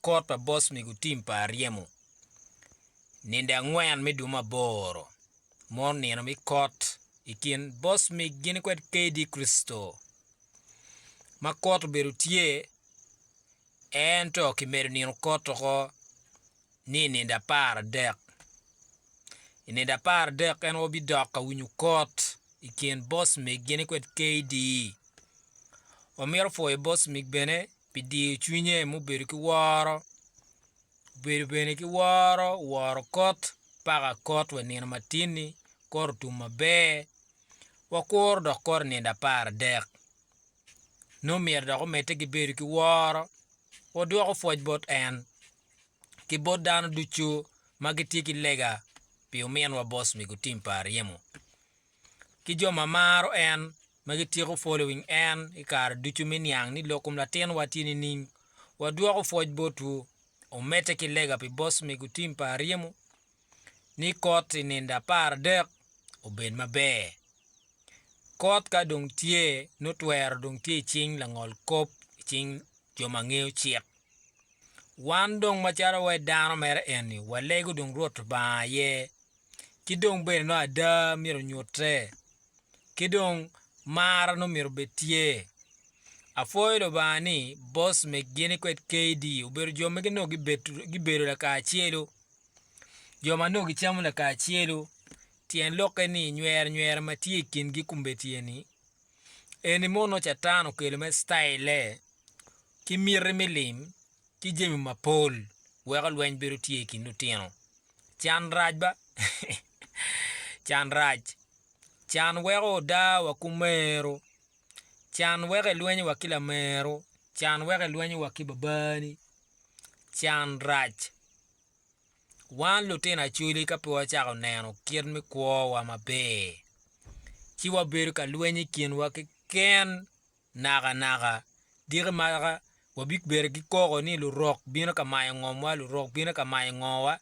Kot pa boss mego team pa Aryemo ninde angwen me dwe me aboro mono nino me kot i kin boss mig gin kwed KD Christo ma kot obedo tye ento kimedo nino kot oko ni ninde apar adek i ninde apar adek en wabidok ka winyo kot i kin boss mig gin kwed KD wamito pwoyo boss mig bene pi diyo cwinye mubedo ki woro, obedo bene ki woro woro kot paka kot wa i nino matin-ni, kot otum maber, wakuro dok kot i nino apar adek. Nongo myero dok omedde ki bedo ki woro, wadwoko pwoc bot en ki bot dano ducu ma gitye ki lega pi ominwa Boss Migutim pa Aryemo. ki jo ma maro en ma gityeko following en i kare ducu me niang ni lok kom latinwa tye nining. Wadwoko pwoc botwu. Omedde ki lega pi boss mego tim pa Aryemo ni kot i ninde apar adek obed maber. Kot ka dong tye nongo twero dong tye i cing langol kop i cing jo ma ngeyo cik. Wan dong macalo wa i dano mere eni walego dong Rwot Lubanga aye ki dong bene nongo ada myero onyutte ki dong mar nongo myero bed tye apwoyo lubanga ni boss me gini kwed KD obedo jo ma nongo gibedo lakacelu jo ma nongo gicamo lakacelu tyen lokke ni nyer nyer ma tye i kingi kombeddi eni eni mono nongo catan okelo me citayille ki miti me lim ki jami mapol weko lweny bedo tye i kin lutino. Can rac ba. Can rac. Can weko oda wa ku meru. Can weko elwenyo wa ki lameru. Can weko elwenyo wa ki babani. Can rac. Wan lutino Acholi ka pe wacako neno kit me kwo wa maber, ci wabedo ka lwenyo i kin wa keken. Nakanaka, giko maka wabibedo ki koko ni lurok bino ka mayo ngomwa, lurok bino ka mayo ngowa,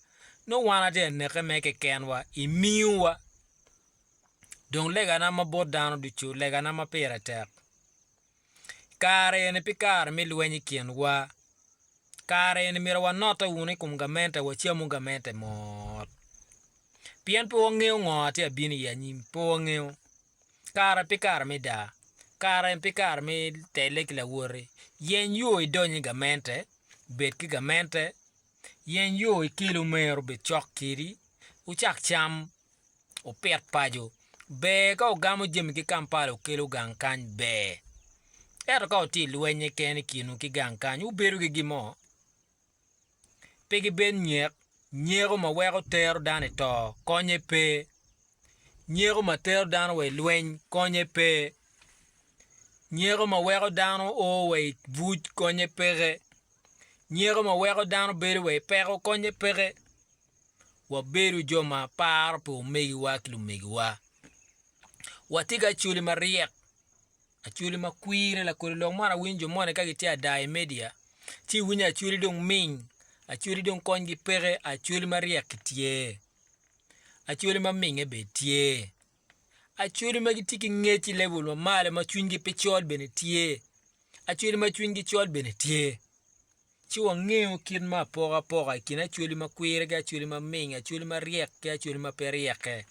nongo wan atye ka neke mere kekenwa i miuwa. Dong legana ma bot dano ducu, legana ma pire tek, i kare eni pe kare me lweny i kinwa, kare eni myero wanotte wunu i kom gamente, wacamu gamente mot, pien pe wangeyo ngo atye ka bino i anyim, pe wangeyo. Kare pi kare me daa, kare pi kare me telle ki lawoti, yeny yo idony i gamente, bed ki gamente, yeny yo ikel omero obed cok kedi, wucak cam, wupit paco. Ber ka wugamo jami ki Kampala wukelo gang kany ber. Ento ka wutye i lweny keken i kinwu ki gang kany, wubedo ki gin mo? pe gibed nyek, nyeko ma weko tero dano i to konye pe, nyeko ma tero dano wa i lweny konye pe, nyeko ma weko dano o wa i buc konye peke, nyeko ma weko dano bedo wa i peko konye peke. Wabedo jo ma paro pi omegiwa ki lumegiwa, watye ki acwali maryek Acholi ma kwire lakoli lok man awinyo jo moni ka gitye ada i media ci iwinyo acholi dong ming acholi dong konygi peke acholi ma ryekki tye acholi ma minge bene tye acholi ma gitye ki ngec i level ma malo ma cwinygi pe col bene tye acholi ma cwinygi col bene tye. Ci wangeyo kit ma apokapoka i kin acwali ma kwire ki acwali ma ming, acwali ma ryek ki acwali ma pe ryeke.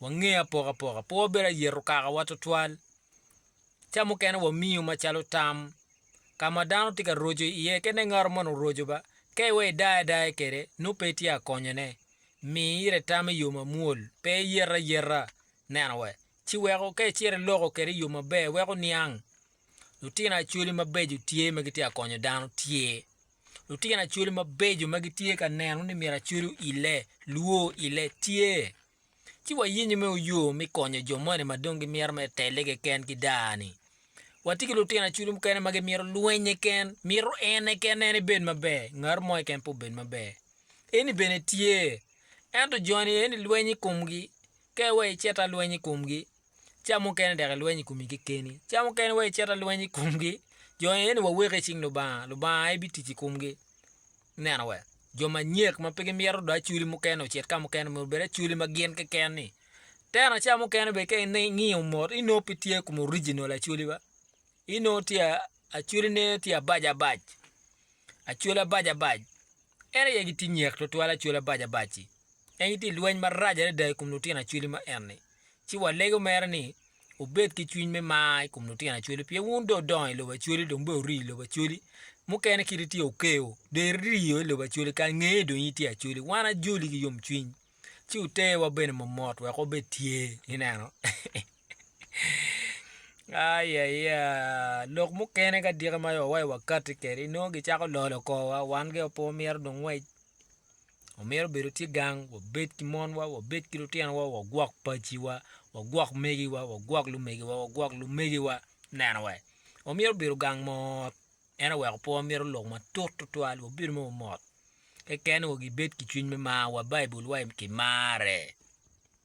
Wangeyo apokapoka. Pe wabedo ayeto kakawa twatwal. Ca mukene wamiyo macalo tam. Ka ma dano tye ka roco iye, kit ne ngato moni oroco ba, ka iwe idaye adaya kwede, nongo pe itye ka konyone. Mi ire tam i yo mamwol, pe iyete ayeta. Neno wa. Ci weko, ka icito iloko kwede i yo maber, weko oniang. Lutino Acholi mabeco tye ma gitye ka konyo dano? Tye. Lutino Acholi mabeco ma gitye ka neno ni myero Acholi oile, lwo oile? Tye. Ci wayenyo me oyo me konyo jo moni ma dong gimito mere telle keken ki daa-ni. Watye ki lutino Acholi mukene ma gimito lwennye ken, mito ene ken en ebed maber, ngati mo keken pe obed maber. Eni bene tye. Ento joni eni lweny i komgi, ka iweko icit alweny i komgi, ca mukene dok ilweny i komi kekeni, ca mukene wa icito alweny i komgi, jo eni waweki i cing Lubanga, Lubanga aye bitic i komgi. Ineno we? Jo manyek ma pe gimito dong acoli mukene ocit ka mukene myero obed acoli ma gin keken-ni. Tena ca mukene bene ka ingiyo mot inongo pe tye i kom original acoli ba, inongo tye a, acoline tye abac abac, acoli abac abac. En aye gitye nyek tutwal acoli abac abac-ci. En gitye ilweny marac adada i kom lutino acoli ma enni. ci walego mere ni wubed ki cwiny me mar i kom lutino Acholi pien wun dong wudongo i lobo Acholi dong bene wurii i lobo Acholi. Mukene kit itye Okeo, dong iriyo i lobo Acholi, kara ngeye dong in itye Acholi. Wan ajoli ki yomcwiny, ci wuterwa bene momot wek wabed tye. Ineno? Ai, aya, lok mukene ka diki ma wawaci wakatti kwede, inongo gicako lolo korowa, wan ge pe wamito dong ngwec. Omyero obedo tye gang wabed ki monwa, wabed ki lutinowa, wagwok paciwa, wagwok megiwa, wagwok lumegiwa, wagwok lumegiwa. Neno wa. Omyero obedo gang mot. En aye oweko pwonwa myero oluk matut tutwal, wabedo ma wamot. Kekeni wa gibed ki cwiny me mar wa, Baibulwa kimare.